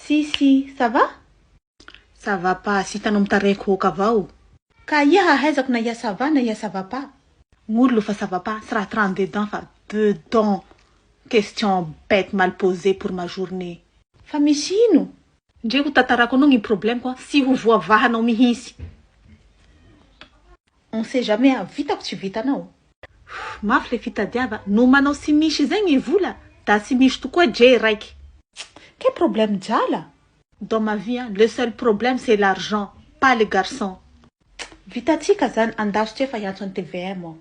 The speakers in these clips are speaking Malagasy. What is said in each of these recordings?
Sy sy, ça va? Ça va pas, sy hitanao mitareko ok avao o. Ka aia hahaizako na ia ça va na ia ça va pas? Ngolo fa ça va pas, tsy raha trente deux dents fa deux dents Question bête mal posée pour ma journée. Fa misy ino? Ndre ho tantarako anao gny problème ko an, sy ho voavahanao mihitsy. On sait jamais a, vitako tsy vitanao. Mafy le fitadiava no manao sy misy izay ny vola da tsy misy tokoa djee raiky. Quel problème djala? Dans ma vie an, le seul problème c'est l'argent, pas le garçon. Vitantsika zany andasitra efa hiantso an'i tvm aho.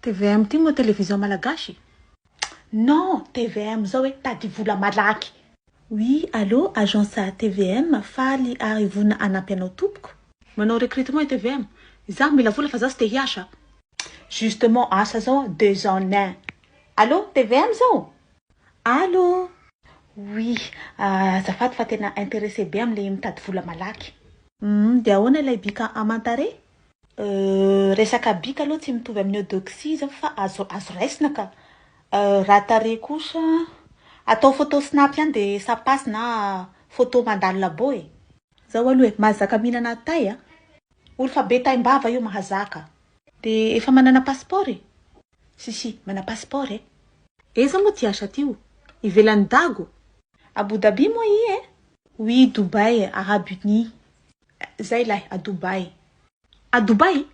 Tvm ty moa television malagasy? Non, tvm zao hoe tady vola malaky. Oui allo agence tvm faly ary vonona hanampy anao tompoko. Manao recrutement i tvm. Izaho mila vola fa za tsy te hiasa a. Justement asa zao deux ans nin. Allo tvm zao? Allo. Oui azafady fa tena interesse be amle mitady vola malaky. Humm dia ahoana ilay bika aman-tarehy? Euh resaka bika aloha tsy mitovy amin'ny eudoxie zao fa azo azo raisina ka. Euh raha tarehy kosa atao photo snap ihany de ça passe na photo mandalo labo e. Zao aloha e, mahazaka mihinana tay a. Ory fa be taim-bava io mahazaka. De efa manana passeport e? Si si mana passeport e. Aiza moa ty asa ty o? Ivelan'i Dago? Abu Dhabi moa i e? Oui Dubai, Arabie Unie. Zay lahy a Dubai. A Dubai?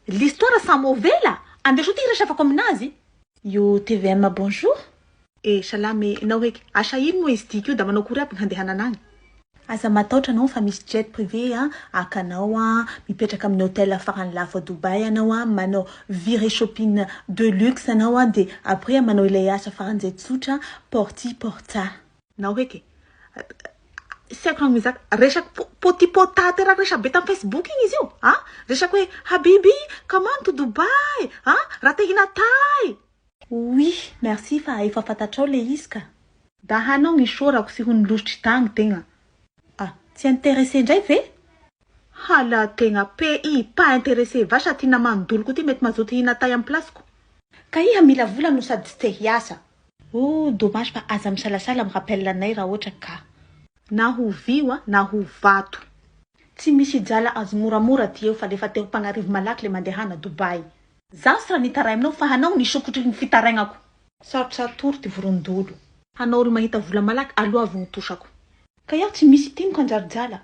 L'histoire sa mauvais la? Andeso ty hiresafako aminazy. Io tvm bonjour. Eh salama eh enao heky asa ino moa izy tiky io da manao akory aby ny handehanana agny. Aza mataotra anao fa misy jet privé a haka anao a mipetraka amin'ny hotel farany lafo a Dubai anao a manao virée shopping de luxe anao a de après manao ilay asa faran'izay tsotra porty porta. Nao heky tsy haiko raha mizaka resaka po potipota teraky resaka be tam facebook igny izy io a resaka hoe habibi comment to dubai a raha te hinatay Oui merci fa efa fantatrao le izy ka. Da hanao ny isaorako sy ho ny lositry tagny tegna. Ah, tsy intéressé ndray ve? Hala tegna pays pas interesse va sa ty namany doloko ty mety mazoto hihina tay am place ko. Ka iha mila vola no sady tsy te hiasa. Ooh dommage fa aza misalasala am rappel anay ra otra ka. Na ho vy wa na ho vato. Tsy misy hijala azy moramora ty eo fa lefa te ho mpagnarivo malaky le mandehana Dubai. Zaho tsy raha nitarahy aminao fa hanao ny sokitry ny fitarainako. Sarotra atoro ty vorondolo. Hanao olo mahita vola malaky aloha vao ho tosako. Ka iaho tsy misy tim ka njary jala.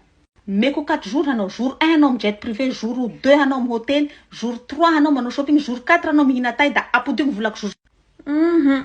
Meko quatre jours hanao jour un hanao am jet privé jour deux hanao am hotely jour trois hanao manao shopping jour quatre hanao mihina tay da apodio ny volako jour Hum.